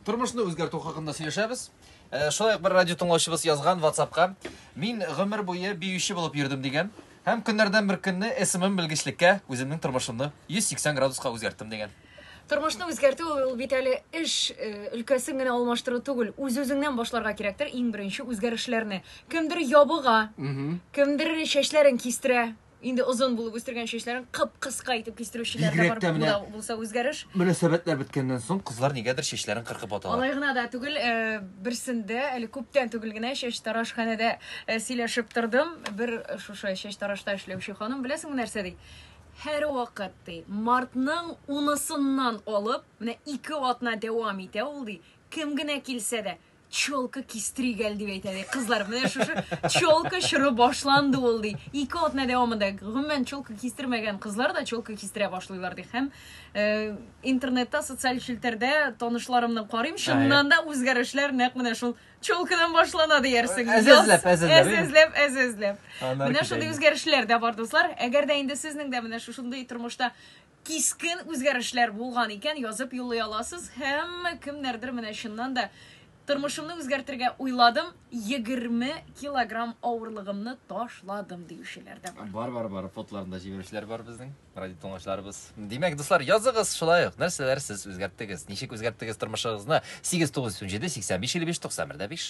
тормышны үзгәртү хакында сөйләшәбез э, шулай ук бер радио тыңлаучыбыз язган ватсапка мин гомер буе биюче булып йөрдем дигән һәм көннәрдән бер көнне смм белгечлеккә үземнең тормышымны 180 градуска үзгәрттем дигән тормышны үзгәртү ул бит әле эш э, өлкәсен генә алмаштыру түгел үз үзеңнән башларга кирәктер иң беренче үзгәрешләрне кемдер ябыга кемдер чәчләрен кистерә Инде озын булып үстергән чәчләрен кып-кыска итеп кистерүчеләр дә бар менә, булса үзгәреш. Мөнәсәбәтләр беткәннән соң кызлар нигәдер чәчләрен кыркып аталар. Алай гына да түгел, э, берсендә әле күптән түгел генә чәч тарашханәдә э, сөйләшеп тордым. Бер шушы чәч тарашта эшләүче ханым беләсеңме нәрсә ди? Һәр вакыт ди, мартның унысыннан алып, менә ике атна дәвам итә ул ди, кем генә килсә дә, челка кистери гәл дип әйтә ди кызлар менә шушы челка чоры башланды ул ди ике атна дәвамында гомумән челка кистермәгән кызлар да челка кистерә башлыйлар ди һәм э, интернетта социаль челтәрдә танышларымны карыйм чыннан да үзгәрешләр нәкъ менә шул челкадан башлана диярсең Әз эзләп, әз эзләп, әз эзләп әз эзләп менә шундый үзгәрешләр дә бар дуслар әгәр дә инде сезнең дә менә шушындый тормышта Кискен үзгәрешләр булган икән, язып юллый аласыз. Һәммә кемнәрдер менә чыннан да тормышымны үзгәртергә уйладым, 20 килограмм авырлыгымны ташладым диючеләр дә бар. Бар, бар, бар. Фотоларын да җибәрүчеләр бар безнең. Радио тыңлаучыларыбыз. Димәк, дуслар, языгыз шулай ук. Нәрсәләр сез үзгәрттегез? Ничек үзгәрттегез тормышыгызны? 897 85 55 91 5.